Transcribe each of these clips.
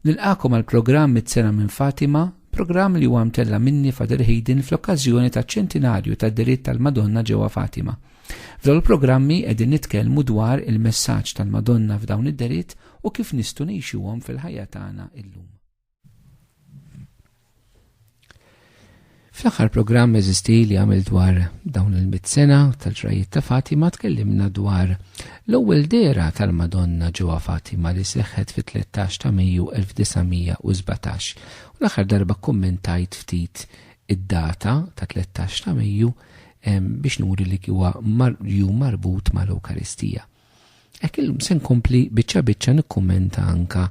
Nilqakom għal programm mit-sena minn Fatima, programm li huwa mtella minni Father Hayden fl-okkażjoni ta' ċentinarju ta' diritt tal-Madonna ġewwa Fatima. F'dawn il-programmi qegħdin nitkellmu dwar il-messaġġ tal-Madonna f'dawn id-deritt u kif nistgħu ngħixuhom fil-ħajja tagħna illum. Fl-aħħar programm eżisti li għamil dwar dawn il-mit sena tal-ġrajiet ta' Fatima tkellimna dwar l-ewwel dera tal-Madonna ġewwa Fatima li seħħet fit-13 ta' Mejju 1917. U l-aħħar darba kummentajt ftit id-data ta' 13 ta' Mejju biex nuri li huwa jum marbut mal-Ewkaristija. Hekk illum se nkompli biċċa biċċa nikkummenta anka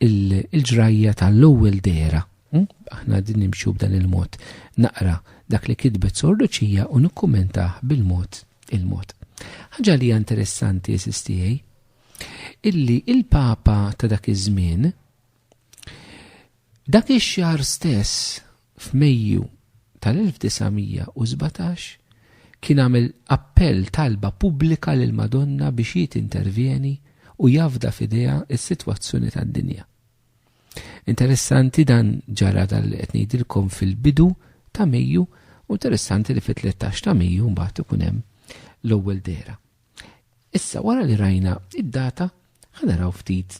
il-ġrajja tal-ewwel dera. Hm? Aħna din nimxu b'dan il-mod. Naqra dak li kitbet sorduċija u nikkummentah bil-mod il-mod. Ħaġa li interessanti esistijaj, illi il-Papa ta' dak iż-żmien, Dak ix-xahar stess, f'Mejju tal-1917, kien għamel appell talba pubblika lill-Madonna biex hi tintervjeni u jafda f'idejha s-sitwazzjoni tad-dinja. Interessanti dan ġara dan li qed ngħidilkom fil-bidu ta' Mejju u interessanti li fit-13 ta' Mejju mbagħad ikun hemm l-ewwel dera. Issa wara li rajna id-data ħanaraw ftit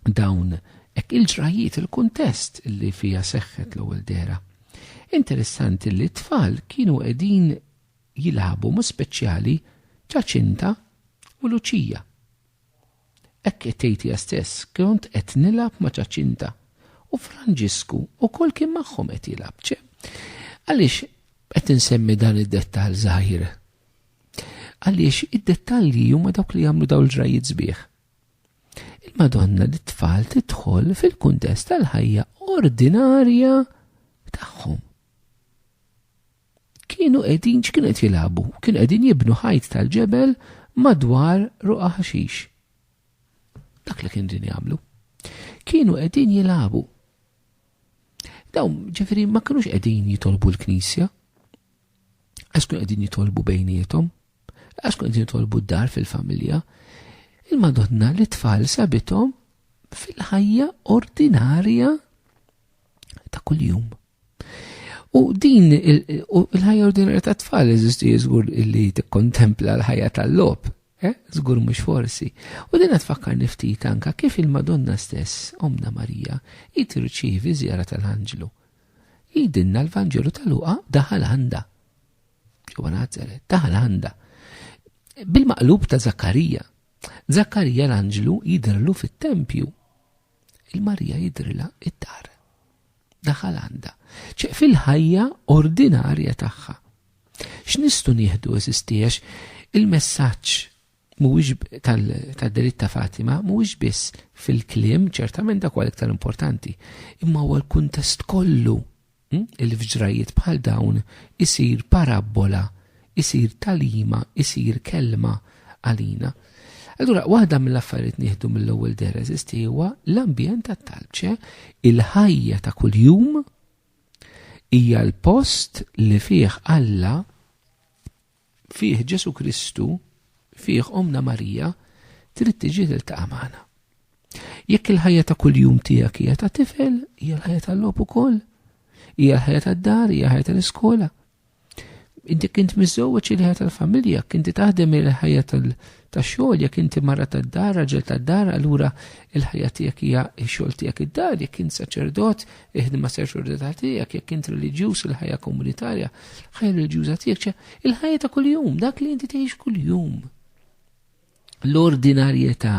dawn hekk il-ġrajiet il-kuntest li fiha seħħet l-ewwel dehra. Interessanti li t-tfal kienu qegħdin jilagħbu ma' speċjali Ġaċinta u Luċija. Hekk qed tgħidha stess, kont qed nilgħab ma' Ġaċinta u Franġisku wkoll kien magħhom qed jilgħab. Għaliex qed insemmi dan id-dettal żgħir. Għaliex id-dettalji huma dawk li jagħmlu dawn il-ġrajiet sbieħ. Il-Madonna lit-tfal tidħol fil-kuntest tal-ħajja ordinarja tagħhom. Kienu qegħdin x'kienu qed jilagħbu, kienu qegħdin jibnu ħajt tal-ġebel madwar ruqa ħaxix. Dak li kienu din jagħmlu. Kienu qegħdin jilagħbu. Dawn ġifieri ma kinux qegħdin jitolbu l-Knisja, għax kun qegħdin jitolbu bejniethom, għax kun qegħdin jitolbu d-dar fil-familja, il-Madonna li tfal sabithom fil-ħajja ordinarja ta' kuljum. U din il-ħajja ordinarja ta' tfal eżisti jiżgur li tikkontempla l-ħajja tal-lob, eh? żgur mhux forsi. U din tfakkar niftit anka kif il-Madonna stess, Omna Marija, jitirċivi żjara tal-Anġlu. Jgħidilna l-Vanġelu ta' Luqa daħal għandha. Ġewwa Nazaret, daħal għandha. Bil-maqlub ta' Zakkarija. Zakkarija l-anġlu jidrillu fit-tempju. Il-Marija jidrilha id-dar. Daħal għandha. ċeq fil-ħajja ordinarja tagħha. X'nistgħu nieħdu eżistiex il-messaġġ mhuwiex tad-delitt ta' Fatima mhuwiex biss fil-kliem, ċertament dak huwa l-iktar importanti, imma huwa l-kuntest kollu hm, il fġrajiet bħal dawn isir parabbola, isir talima, isir kelma għalina. Allura, waħda mill-affarijiet nieħdu mill-ewwel deres huwa l-ambjent tat-talbċe, il-ħajja ta' kuljum hija l-post li fih Alla fih Ġesù Kristu, fih Ommna Marija, trid tiġi tiltaqa' magħna. Jekk il-ħajja ta' kuljum tiegħek hija ta' tifel, hija l-ħajja tal-logħob ukoll, hija l-ħajja tad-dar, hija ħajja tal-iskola. Inti kint miżewweġ il-ħajja tal-familja, kinti taħdem il-ħajja ta' xogħol jekk inti mara tad-dar, raġel tad-dar, allura il-ħajja tiegħek hija x-xogħol tiegħek id-dar, jekk int saċerdot, iħdma saċerdota tiegħek, jekk int reliġjuż il-ħajja komunitarja, ħajja reliġjuża tiegħek, il-ħajja ta' kuljum, dak li inti tgħix kuljum. L-ordinarjetà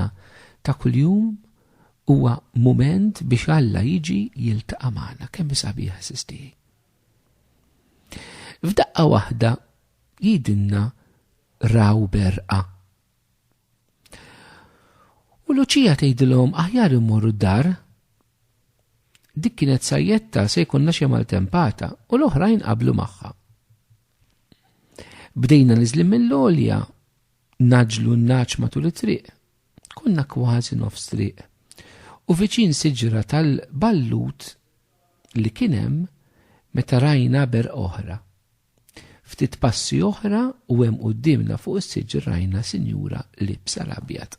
ta' kuljum huwa moment biex Alla jiġi jiltaqa' magħna kemm sabiħa sisti. F'daqqa waħda jidinna raw berqa. U Luċija tgħidilhom aħjar immorru d-dar. Dik kienet sajjetta se jkunna xi maltempata u l-oħrajn qablu magħha. Bdejna niżlim mill-olja, naġlu n-naċ matul it-triq. Konna kważi nofs triq. U viċin siġra tal-ballut li kienem meta rajna ber oħra. Ftit passi oħra u hemm quddiemna fuq is-siġġ rajna sinjura libsa l-abjad.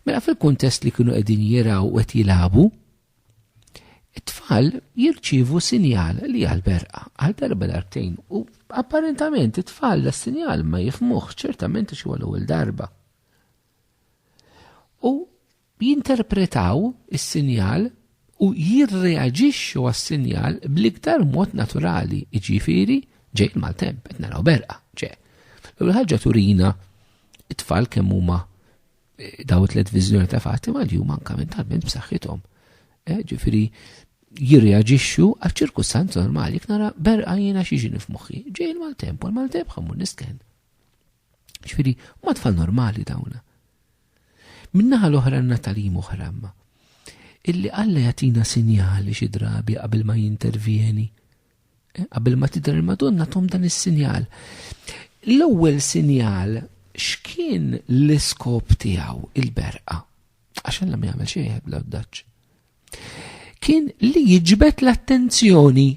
Mela fil-kuntest li kienu qegħdin jiraw u qed jilagħbu, it-tfal jirċivu sinjal li għal berqa għal darba darbtejn u apparentament it-tfal da sinjal ma jifmuħ ċertament xi għal ewwel darba. U jinterpretaw is-sinjal u jirreaġixxu għas-sinjal bl-iktar mod naturali, jiġifieri ġej il-maltemp, qed naraw b'erqa, ġe. L-ewwel ħaġa turina it-tfal kemm huma eh, daw it-tliet viżjoni ta' Fatima li huma anke mentalment b'saħħithom. Eh, ġifieri jirreaġixxu għaċ-ċirkustanza normali jekk nara berqa jiena xi ġini f'moħħi. Ġej il-maltemp u l-maltemp ħammur nisken. Ġifieri, huma tfal normali dawn. Min-naħa l-oħra għandna talim oħra imma. Illi Alla jagħtina sinjali xi drabi qabel ma jintervjeni. Eh, qabel ma tidher il-Madonna tom dan is-sinjal. L-ewwel sinjal x'kien l-iskop tiegħu il-berqa? Għax Alla ma jagħmel xejn bla daċ. Kien li jiġbed l-attenzjoni.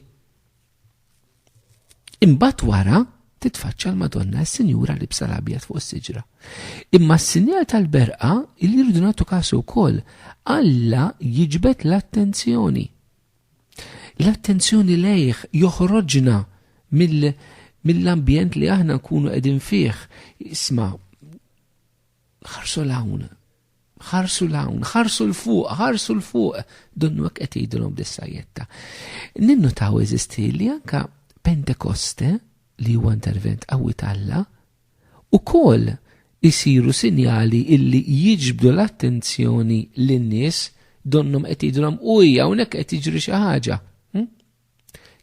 Imbagħad wara titfaċċa l-Madonna s-Sinjura li bsa l-abjad fuq is-siġra. Imma s-sinjal tal-berqa li rridu nagħtu kasu wkoll Alla jiġbed l-attenzjoni. L-attenzjoni lejh joħroġna mill-ambjent li aħna nkunu qegħdin fih. Isma' ħarsu l-hawn Ħarsu l-hawn, ħarsu l-fuq, ħarsu l-fuq, donnu hekk qed jgħidulhom b'dissajjetta. Ninnutaw eżisti li anka Pentekoste li huwa intervent qawwi talla, u kol isiru sinjali illi jiġbdu l-attenzjoni lin-nies donnhom qed jgħidulhom uj hawnhekk qed jiġri xi ħaġa. Hm?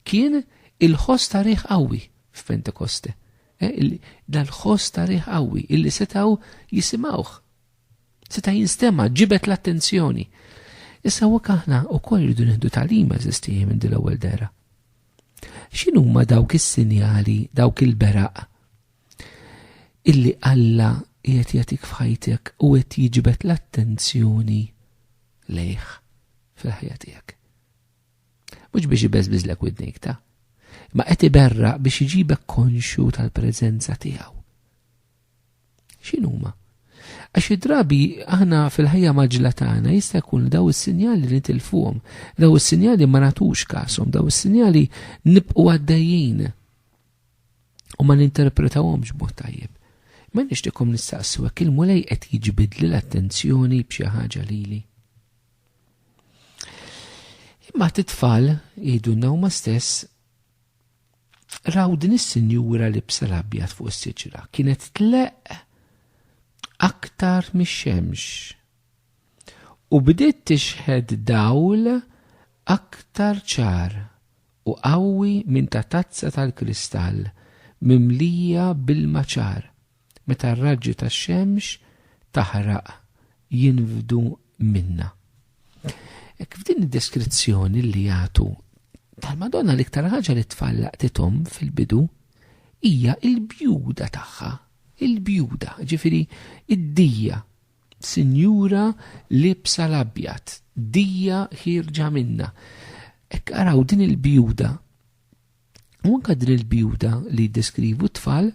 Kien il-ħoss ta' riħ qawwi f'Pentekoste. Eh, dal-ħoss ta' riħ qawwi illi setaw jisimawh. Seta' jinstema' ġibet l-attenzjoni. Issa u aħna u koll rridu nieħdu talima eżistijie minn dil ewwel dera. X'inhuma dawk is-sinjali, dawk il-beraq illi Alla qiegħed jagħtik f'ħajtek u qed jiġbed l-attenzjoni lejh fil-ħajja tiegħek. Mhux biex ibeżbiżlek widnik ta' ma qed iberra biex iġibek konxju tal-preżenza tiegħu. X'inhuma? Għax id-drabi aħna fil-ħajja maġla tagħna jista' jkun daw is-sinjali li nitilfuhom, daw is-sinjali ma nagħtux kasom, daw is-sinjali nibqgħu għaddejjin u ma ninterpretawhomx b'mod tajjeb. Ma nixtieqkom nistaqsu hekk il-mulej qed jiġbidli l-attenzjoni b'xi ħaġa lili. Imma t-tfal jgħidu n-nawma stess raw din is-sinjura li bsa l-abjad fuq is-siġra kienet tleq aktar mix-xemx u bdiet tixħed dawl aktar ċar u qawwi minn ta' tazza tal-kristall mimlija bil-maċar. meta r-raġġi tax-xemx taħraq jinfdu minnha. Hekk f'din id-deskrizzjoni li jagħtu tal-Madonna l-iktar ħaġa li tfal laqtithom fil-bidu hija il-bjuda tagħha, il-bjuda, ġifiri id-dija, sinjura libsa l-abjad, dija ħirġa minna. Ek araw din il-bjuda U anke din il-bjuda li jiddeskrivu t-tfal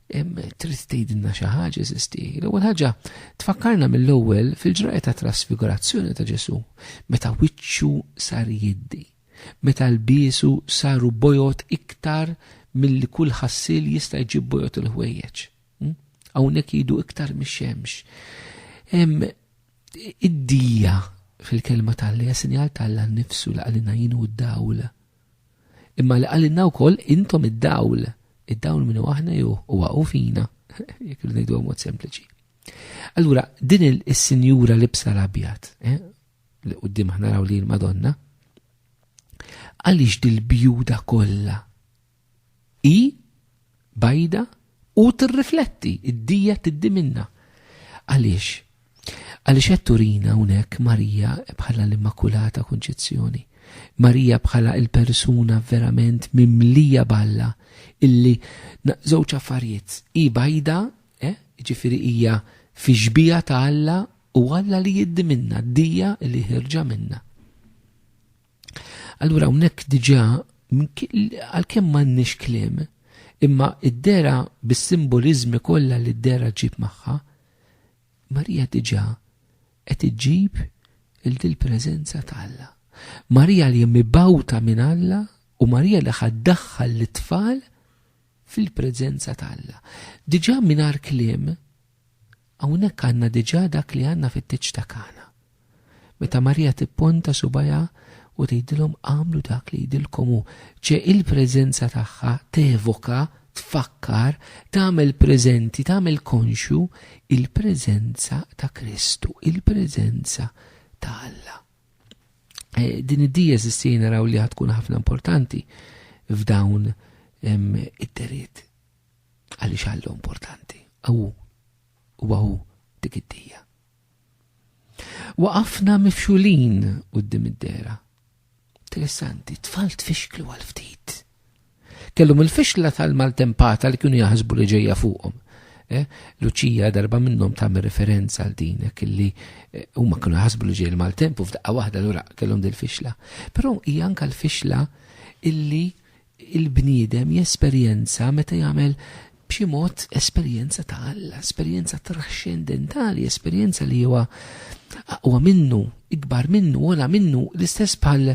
trid tgħidilna xi ħaġa eżisti. L-ewwel ħaġa tfakkarna mill-ewwel fil-ġrajja ta' trasfigurazzjoni ta' Ġesù meta wiċċu sar jiddi, meta l-biesu saru bojot iktar milli kull ħassil jista' jġib bojot il-ħwejjeġ. Hm? Hawnhekk jgħidu iktar mix-xemx. Id-dija fil-kelma tal-li sinjal tal-la nnifsu l-qalina jinu d-dawla Imma li qalilna wkoll, Intom id-dawl. Id-dawl min hu aħna jew huwa hu fina, jekk irridu ngħiduha b'mod sempliċi. Allura, din is-sinjura libsa l-abjad, eh, li qudiem aħna raw li l-Madonna, għaliex dil-bjuda kollha Hi bajda u tirrifletti, id-dija tiddi minnha. Għaliex? Għaliex qed turina hawnhekk Marija bħala l-Immakulata Kunċizzjoni. Marija bħala il-persuna verament mimlija balla illi żewġ affarijiet hi bajda, eh, ġifieri hija fi xbija ta' Alla u Alla li jiddi minna, dija li ħirġa minna. Allura hawnhekk diġà għalkemm m'għandniex kliem, imma id-dera bis-simboliżmi kollha li d-dera ġib magħha, Marija diġà qed iġġib il dil preżenza ta' Alla. Marija li mibawta minn Alla u Marija li ħaddaħħal lit-tfal fil-preżenza ta' Alla. Diġà mingħajr kliem Hawnhekk għandna diġà dak li għandna fit-tieġ ta' Kana. Meta Marija tipponta subgħajha u tgħidilhom agħmlu dak li jgħidilkom hu, ċe il-preżenza tagħha tevoka, tfakkar, tagħmel preżenti, tagħmel konxju il-preżenza ta' Kristu, il-preżenza ta' Alla. E, din id-dies issir naraw li tkun ħafna importanti f'dawn it-terit. Għaliex Alla importanti? Awu, u għawu dik id-dija. Waqafna mifxulin u d-dim id-dera. Interessanti, tfal tfixklu għal-ftit. Kellum il-fixla tal-maltempata li kienu jaħsbu li ġeja fuqhom. Eh, Luċija darba minnhom tagħmel referenza għal din kelli eh, huma kienu jaħsbu li ġej il-maltempu f'daqqa waħda lura kellhom dil-fixla. Però hija anke l-fixla illi il-bniedem jesperjenza meta jagħmel b'xi mod esperjenza ta' Alla, esperjenza traxxendentali, esperjenza li huwa aqwa minnu, ikbar minnu, ola minnu, l-istess bħal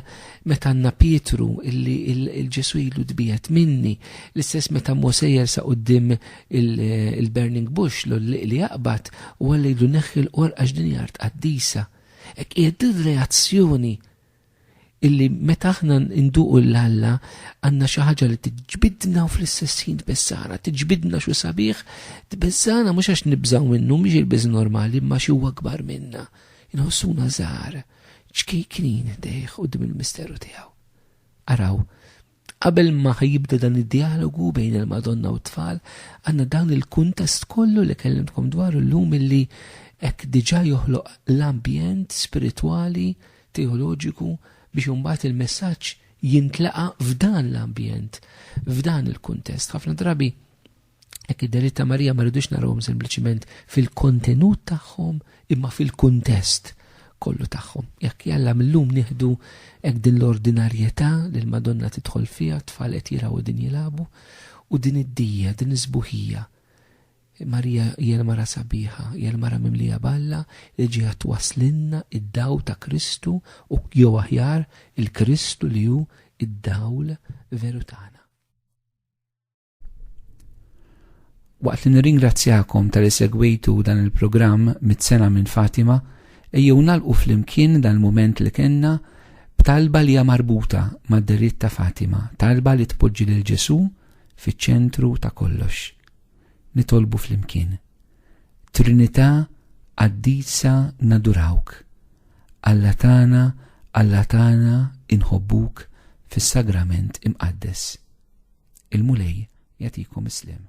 meta għandna Pietru illi il-Ġesu ilu tbijet minni, l-istess meta Mose jersa qoddim il-Burning Bush li jaqbad u għalli jdu neħħi l-qorqax din jart qaddisa. Ek qiegħed reazzjoni illi meta aħna nduqu l-Alla għandna xi ħaġa li tiġbidna u fl-istess ħin tbessara, tiġbidna xi sabiħ, tbessana mhux għax nibżgħu minnu mhix il-biż normali imma xi huwa akbar minna. Inħossuna żgħar, ċkejknin dejh qudiem il-misteru tiegħu. Araw, Qabel ma ħa jibda dan id-djalogu bejn il-Madonna u t-tfal, għandna dan il-kuntest kollu li kellimtkom dwaru llum illi hekk diġà joħloq l-ambjent spiritwali, teoloġiku biex imbagħad il-messaġġ jintlaqa' f'dan l-ambjent, f'dan il-kuntest. Ħafna drabi Hekk id-delitt ta' Marija ma rridux narawhom sempliċiment fil-kontenut tagħhom imma fil-kuntest kollu tagħhom. Jekk jalla millum nieħdu hekk din l-ordinarjetà li l-Madonna tidħol fiha tfal qed jiraw din jilagħbu u din id-dija, din iż-żbuħija. Marija hija mara sabiħa, hija mara mimlija balla li ġiha twaslinna id-daw ta' Kristu u jew aħjar il-Kristu li hu id-dawl veru tagħna. Waqt li nirringrazzjakom tal-li segwejtu dan il-programm mit-sena minn Fatima, ejjew nalqu flimkien dan il-mument li kenna b'talba li hija marbuta mad-deritt ta' Fatima, talba li tpoġġi lil Ġesù fiċ-ċentru ta' kollox. Nitolbu flimkien. Trinità qaddisa nadurawk. Alla tagħna, Alla tagħna inħobbuk fis-sagrament imqaddes. Il-Mulej jagħtikom is-sliem.